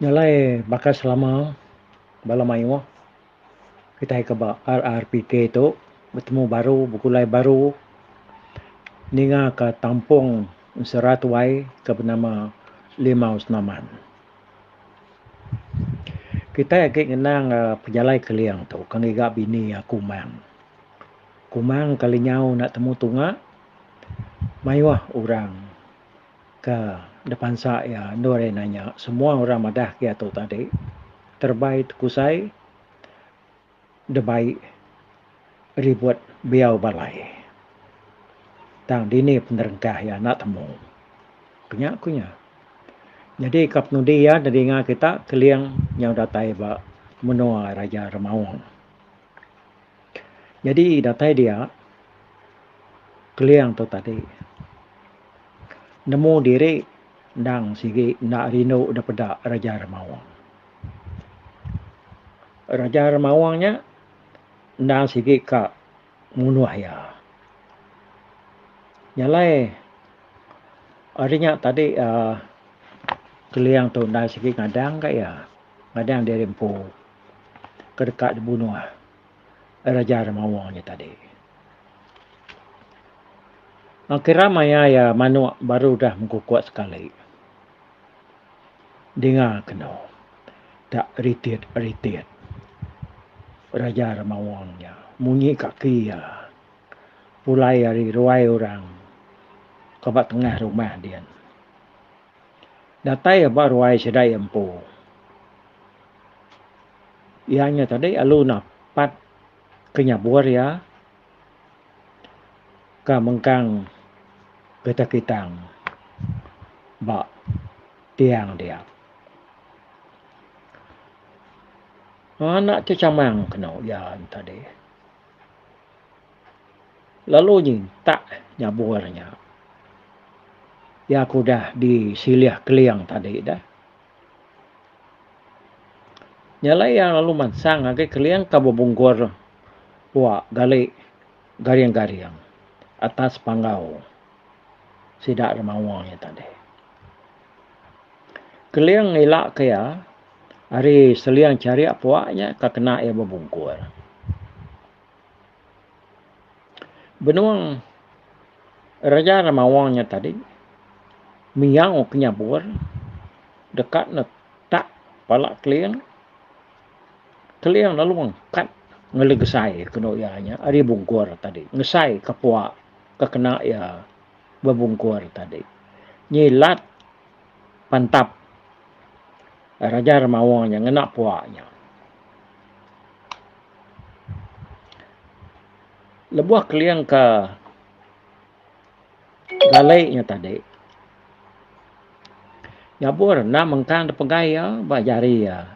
Nyalai baka selama bala mayuh kitai ke ba RRPK tu betemu baru begulai baru ninga ka tampung ensera tuai ke benama Limau Senaman. Kitai agi ngenang pejalai Keling tu ke ngiga bini iya Kumang. Kumang kali nyau enda temu tunga mayuh orang. Ke depansa iya, endur iya nanya, semua orang madah ke iya tu tadi terebai tekusai debai ribut biau balai. Tang dini penerengkah iya enda temu. Ku nya ku iya. Nyadi ka penudi iya nedinga kita Keling nyau datai ba menua Raja Remaung. Jadi datai dia Keling tu tadi nemu diri endang sigi enda rindu daripada Raja Remaung. Raja Remaung nya endang sigi ka munuh iya. Nyalai ari nya tadi aaa Keling tu enda sigi ngadang ka iya. Ngadang diri empu. ke deka dibunuh Raja Remawa nya tadi. Kira maya iya manuk baru udah mengkukuk sekali. Dinga kenu tak ritit-ritit Raja Remawa nya munyi kaki iya pulai ari ruai orang ke ba tengah rumah dian. Datai ia ba ruai sida ia empu. Ia nya tadi alu napat ke nyabur ia ka mengkang getah kitang ba tiang dia. Anak ti chamang kenu ia nya tadi. Lalu nyentak nyabur nya. Iya ke udah disilih Keling tadi dah. Nya alai iya lalu mansang agi Keling ke bebungkur pua gali garing-garing atas panggau sida remawa nya tadi. Keling ila ke iya ari seling charik puak nya ka kena iya bebungkur. Benung Raja Remawang nya tadi miyau ke nyabur deka netak pala Keling, Keling lalu mengkat ngelegesai kenu iya nya ari bungkur tadi ngesai ka puak ka kena iya. bebungkur tadi. Nyilat pantap Raja Remawa nya ngena pua nya. Lebuh keling ke galai nya tadi, nyabur endang mengkang da pegai iya ba jari iya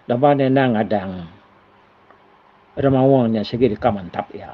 laban iya endang ngadang Remawa nya sigi deka mantap iya.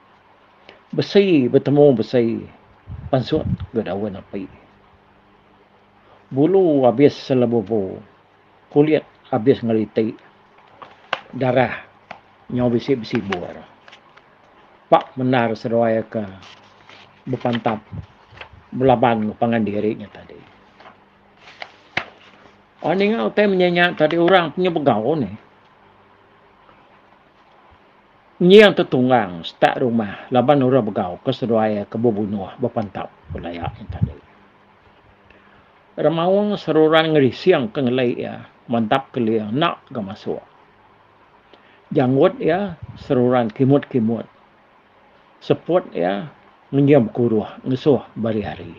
Besi betemu besi pansut ga daun api. Bulu abis selebubu kulit abis ngeliti darah nyau bisi besibur. Pa mendar seduai ka bepantap belaban ga pangan diri nya tadi. Orang ninga utai menya nya tadi orang inya begau neh. Nying tu tunggang setak rumah laban orang begau ke seduai iya ke bebunuh bepantap ku laya nya tadi. Remaung seruran ngerising ke ngeli iya mantap keling enda ga masuk. Janggut iya seruran kimut-kimut. Seput iya ngenyim kuruh ngesuh bari hari.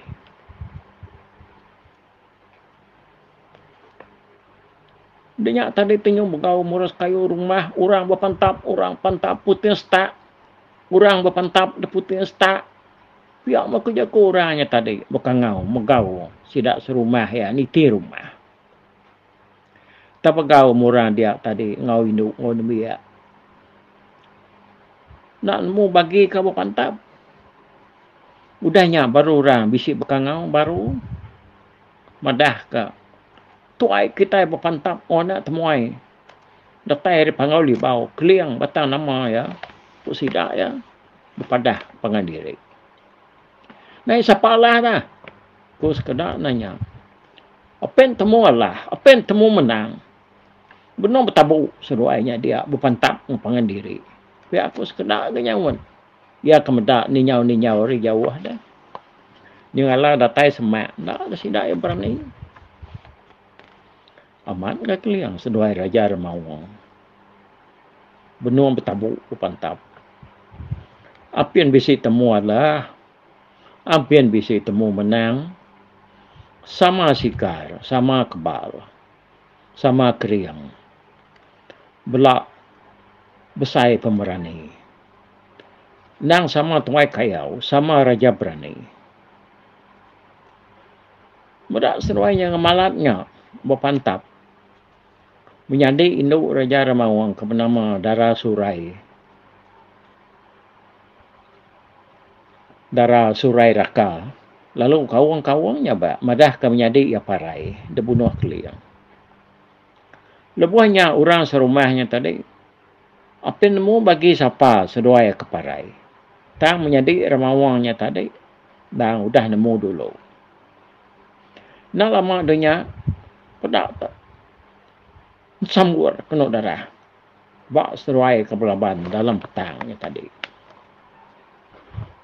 Dinya tadi ti nyau begau murus kayu rumah orang bepentap orang pentap puting setak orang bepentap da puting setak pia meh ku jaku orang nya tadi beka ngau megau sida serumah iya niti rumah. Tepegau meh orang dia tadi enggau indu enggau nembiak. Enda nemu bagi ke ba pantap. Udah nya baru orang bisi bekangau baru madah ke tuai kitai ba pantap oh enda temuai datai ari pangau libau keling batang nama iya ku sida iya bepadah pangan diri. Nai sapa alah da? Ku sekeda nanya. Pen temu alah, pen temu menang. Benung betabu seduai nya dia bepantap enggau pangan diri. Pia ku sekeda ga nyaut. Iya ke meda ninyau-ninyau ari jauh da. Nyengala datai semak enda sida iya berani. Amat ga keling seduai raja remaung. Benung betabu ku pantap. Apin bisi temu alah. Apin bisi temu menang. Sama sikar, sama kebal. Sama kering. Bela besai pemerani. Nang sama tuai kayau, sama raja berani. Meda seruai nya ngemalat nya bepantap menyadi indu Raja Remaung ke benama Dara Surai. Dara Surai Raka lalu kaung-kaung nya ba madahka menyadi iya parai dibunuh Keling. Lebuh nya orang serumah nya tadi apin nemu bagi sapa seduai ke parai tang menyadi Remaung nya tadi endang udah nemu dulu. Enda lama deh nya peda tu sambur kenu darah ba seruai ke belaban dalam petang nya tadi.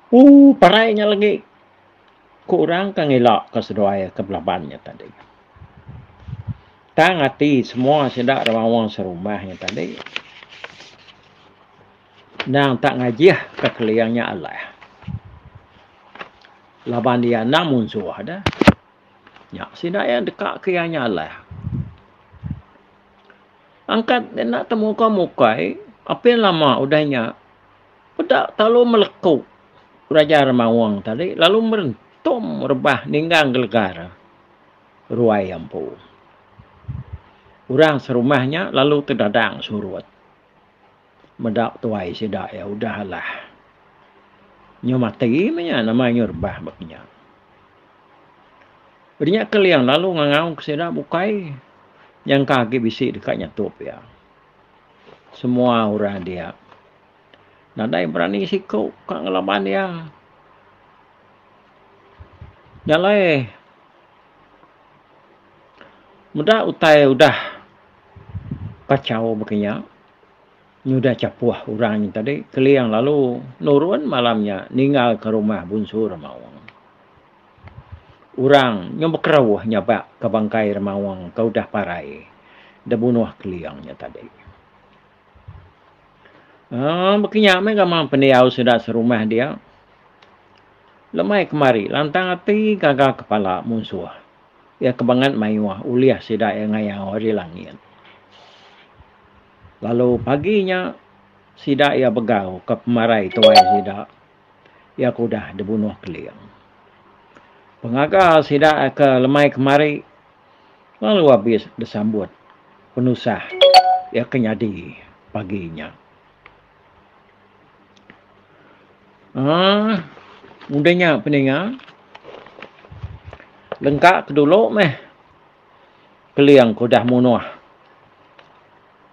Uh parai nya legi ku orang ke ngila ke seduai ke belaban nya tadi. Tang ati semua sida ra maoh serumah nya tadi. Endang tak ngajih ka Keling nya alah. Laban iya endang munsuh deh. Nya sida iya deka ke iya nya alah. Angkat dia enda temuka mukai, apin lama udah nya peda telalu meleku Raja Remaung tadi lalu merentum rebah ninggang gelega re ruai empu. Orang serumah nya lalu tedadang surut. Meda tuai sida iya udah alah. Nyu mati meh nya nama nyu rebah ba kinya. Peda nya Keling lalu ngangau ke sida bukai nyangka agi bisi deka nyatup iya. Semua orang dia nadai berani siku ka ngelaban iya. Nya alai meda utai udah kacau ba kinya. nyudah chapuh orang nya tadi, Keling lalu nurun malam nya ninggalka rumah Bunsu Remaung. Orang nyau bekerauh nyabakka bangkai Remaung ke udah parai dibunuh Keling nya tadi. Um baka nya meh gamal pendiau sida serumah dia, lemai kemari lantang ati gaga kepala munsuh iya ke bangat mayuh ulih sida iya ngayau ari langit. Lalu pagi nya sida iya begau ka pemarai tuai sida iya ke udah dibunuh Keling. Pengaga sida ke lemai kemari lalu abis disambut penusah iya ke nyadi pagi nya. Aaa udah nya peninga lengka ke dulu meh. Keling ke udah munuh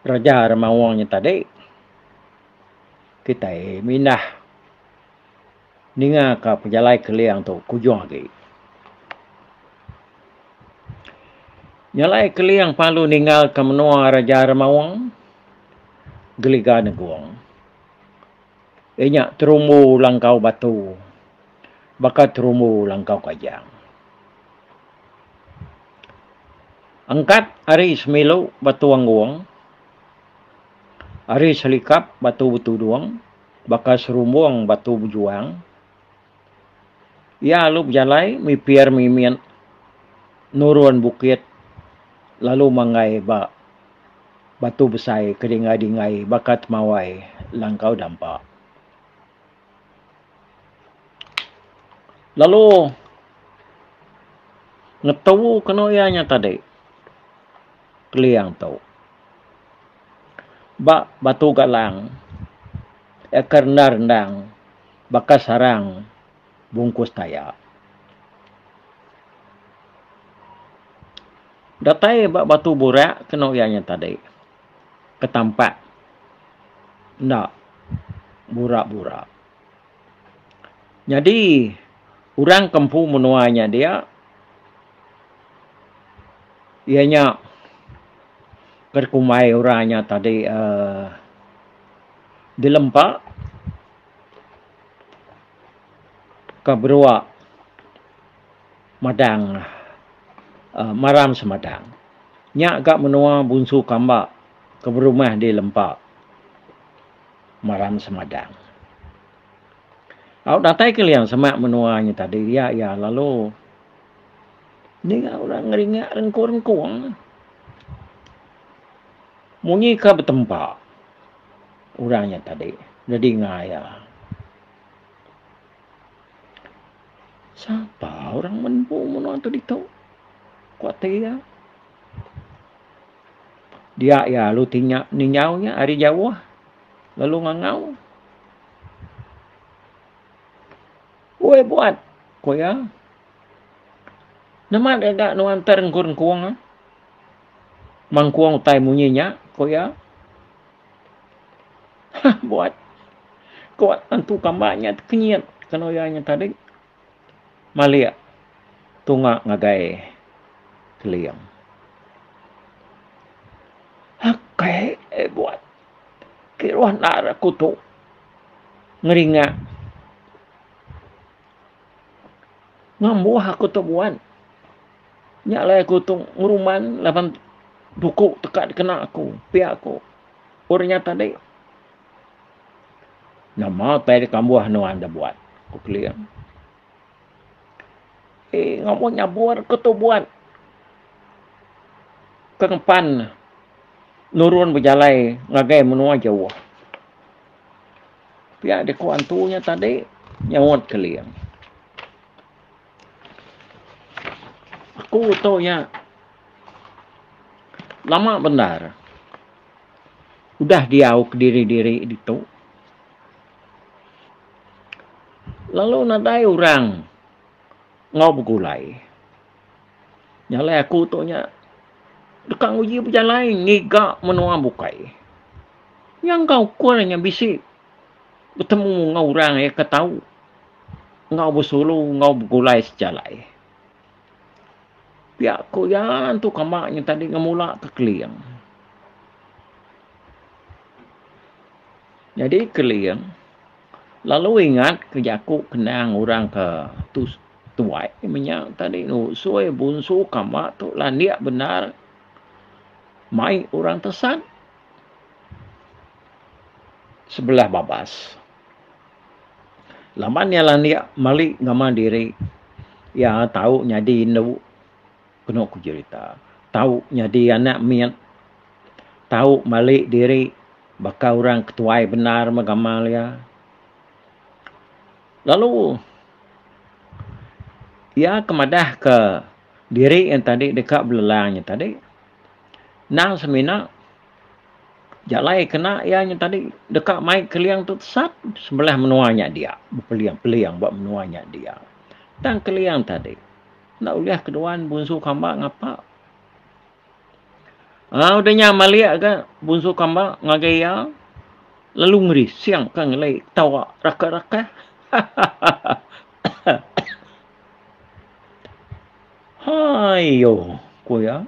Raja Remaung nya tadi. Kitai mindah ningaka pejalai Keling tu ke ujung agi. Nya alai Keling palu ninggalka menua Raja Remaung Geliga Negong. Inya terumbu langkau batu. baka terumbu langkau kajang. Engkat ari semilu batu anggung, ari selikap batu betudung baka serumbung batu bejuang, iya alu bejalai mipir mimit nurun bukit lalu manggai ba batu besai ke dinggai-dinggai baka temawai langkau dampa. Lalu ngetu kenu iya nya tadi Keliang tu ba Batu Galang iya ke rendang rendang baka sarang bungkus taya. Datai ba Batu Burak kenu iya nya tadi. ke tampat enda bura-bura. Nyadi orang ke empu menua nya dia iya nya ke dikumbai orang nya tadi um dilempa ke berua. Madang uhh maram semadang. Nya ga menua bunsu kamba ke berumah di lempa maram semadang. Au datai ke liang semak menua nya tadi iya iya lalu ninga orang ngeringa rengkung rengkung. Munyi ka betempa orang nya tadi didinga iya. Sapa orang menua menua tu ditu? Ku ati iya. Dia iya lalu tinya ninjau iya ari jauh lalu ngangau. Oi buat, ku iya. Nama deka nuan ntar engkung-engkung? Mangkung utai munyi nya, ku iya. Hah buat. Ko tentu kamba nya tekenyit kena oya nya tadi. Malik tunga ngagai keling. Akai eh buat. Kiruh enda ra ku tu ngeringa. Ngembuh aku tu buat. Nya alai aku tu ngeruman laban buku teka dikena aku, pia aku. Orang nya tadi. Nama utai deka mbuh nuan da buat? Ku Keling. Eh, ngawa nyabur ku tu buat ke ngempan nurun bejalai ngagai menua jauh. Pia diku antu nya tadi, nyaut Keling. Aku tu iya lama bendar udah diau kediri-diri ditu. Lalu nadai orang enggau begulai. Nyalai aku tu nya deka nguji bejalai ngiga menua bukai. Nyangka ukur nya bisi. betemu enggau orang iya ke tau enggau besulu enggau begulai sejalai. Pia ku iya tu kamba nya tadi ngemula ke Keling. Nyadi Keling lalu ingat ke jaku kenang orang ke tu tuai menya tadi ngusoi bunsu kamba tu landik bendar mai orang tesan. sebelah babas. Laban iya landik meli ngama diri iya tau nyadi indu kenu ku jerita tau nyadi anak mit tau meli diri baka orang ke tuai bendar meh gamal iya. Lalu iya ke madah ke diri iya tadi deka belelang iya tadi. Endang semina jalai kena iya nya tadi deka mai Keliang tu tesat sebelah menua nya dia bepeling-peling ba menua nya dia. Tang Keliang tadi enda ulih ke duan Bunsu Kamba ngapa. Au udah nya malik ga Bunsu Kamba ngagai iya lalu ngerising ka ngelai ketawa raka-raka. Hai yo, ku iya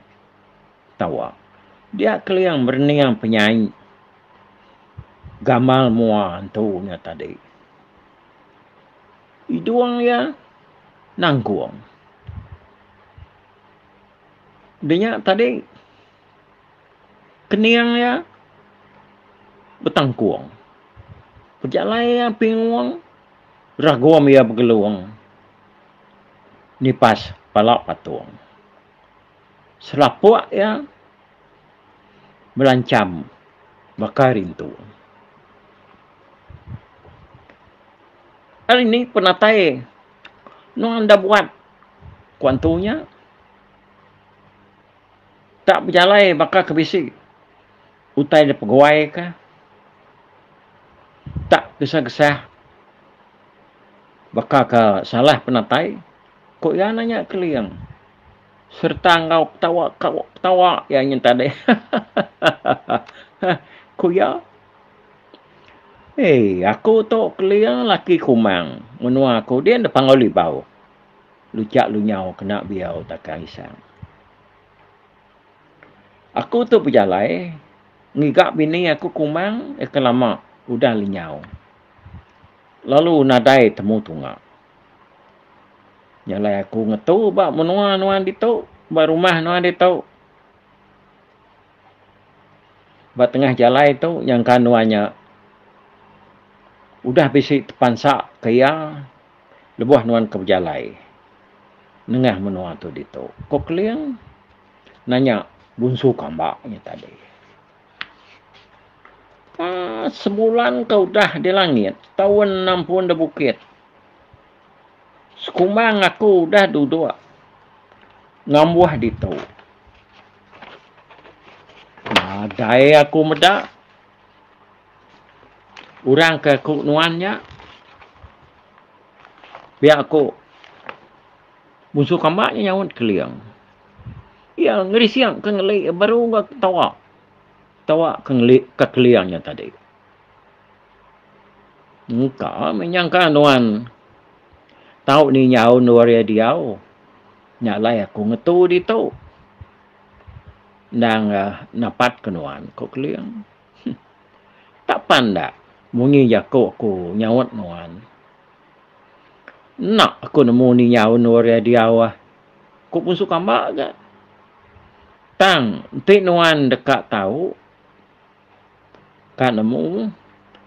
tawa. Dia keling berening penyai gamal mua entu nya tadi. Idung iya nanggung. Denya tadi kening iya betangkung. Pejalai iya pingung ragum iya begelung. nipas pala patung. Selapuk iya belancham baka rintu. Ari ni penatai nuan enda buat ku antu nya tak bejalai baka ke bisi. utai da peguai ka tak kesah-kesah baka ka salah penatai ko iya nanya Keling sereta enggau petawa petawa iya nyin tadi ko iya Hei aku tu Keling laki Kumang menua aku din da Panggau Libau luchak lunyau kena biau takang isang. Aku tu bejalai ngiga bini aku kumang ke lama udah lenyau lalu nadai temu tunga. Jalai aku ngetu ba menua nuan ditu, ba rumah nuan ditu. Ba tengah jalai tu nyangka nuan nya udah bisi tepansa ke iya. Lebuh nuan ke bejalai nengah menua tu ditu? Ko Keling nanya Bunsu Kamba nya tadi. Aa, sebulan ke udah di langit, taun enam pun di bukit. Sekumbang aku udah duduk ngambuh ditu. Nadai aku meda. Orang ke aku nuan nya pia aku munsuh kamba nya nyaut Keling. Iya ngerising ke ngeli baru ga ketawa. Ketawa ke ngeli ke Keling nya tadi. Engka meh nyangka nuan tau ni nyaun orang diau. Nya alai aku ngetu ditu. Endang napat ke nuan, ku Keling. Huh. Tak panda munyi jaku aku nyaut nuan. Enda aku nemu ninga undur iya diau, ku Punsu Kamba ga. Tang enti nuan deka tau, ka nemu,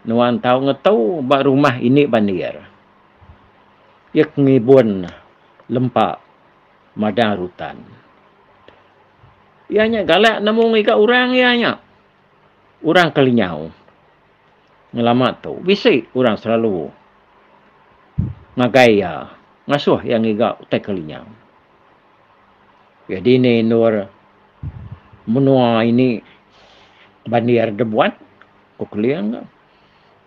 nuan tau ngetu ba rumah indi bandir. Iya ke ngibun lempa. madang rutan. Iya nya galak nemu ngiga orang iya nya. Orang Kelinyau. Ngelama tu bisi orang selalu ngagai iya, ngasuh iya ngiga utai Kelinyau. Iya dini endur menua ini bandir da buan ku Keling tu.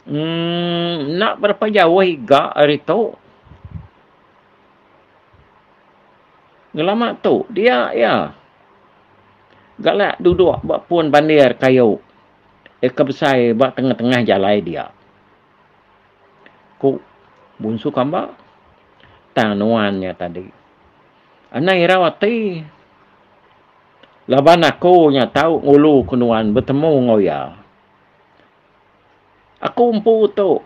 Enda berapa jauh iga ari tu. Ngelama tu dia iya galak duduk ba pun bandir kayu iya ke besai ba tengah-tengah jalai dia. Ku Bunsu Kamba tang nuan nya tadi. Anang irau ati laban aku nya tau ngulu ke nuan betemu enggau iya. Aku empu tu.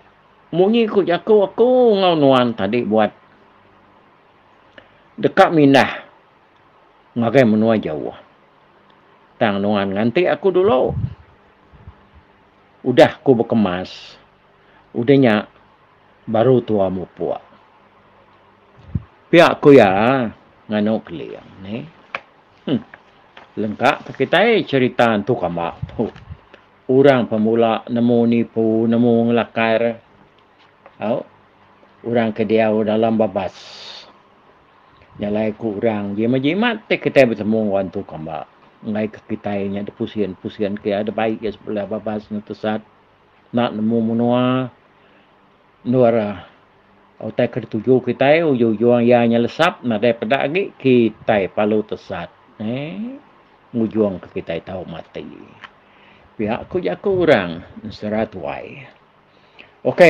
Munyi ku jaku aku enggau nuan tadi buat deka mindah ngagai menua jauh. Tang nuan nganti aku dulu. Udah ku bekemas, udah nya baru tua mupuk. Pia ku iya nganu Keling nih. Huh. Lengka ke kitai cherita entu kamba tu. Orang pemula nemu nipu nemu ngelakar au orang ke diau dalam babas. Nyalai ku orang jimat jimat ti kitai betemu enggau antu kamba enggai ke kitai nya dipusin pusin ke iya dibai iya sebelah babas nutesat enda nemu menua. Endur ira utai ke dituju kitai ujung-ujung iya nyelesap nadai peda agi kitai perlu tesat ngujungka kitai tau mati. Pia ku jaku orang ensera tuai. Ok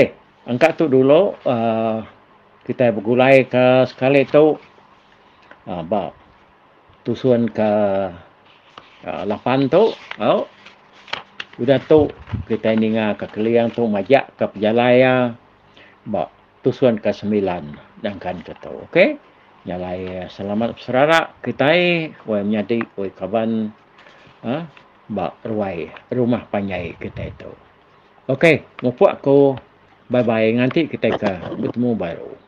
engka tu dulu aaa kitai begulai ka sekali tu aaa ba. tusun ke lapan tu au udah tu kitai ninga ka keling tu majak ka pejalai iya ba tusun ka semilan dangkan ke tu ok jalai selamat beserara kitai wai menyadi wai kaban a ba ruai rumah panjai kitai tu ok mupok ko bye bye nganti kitai ka betemu baru.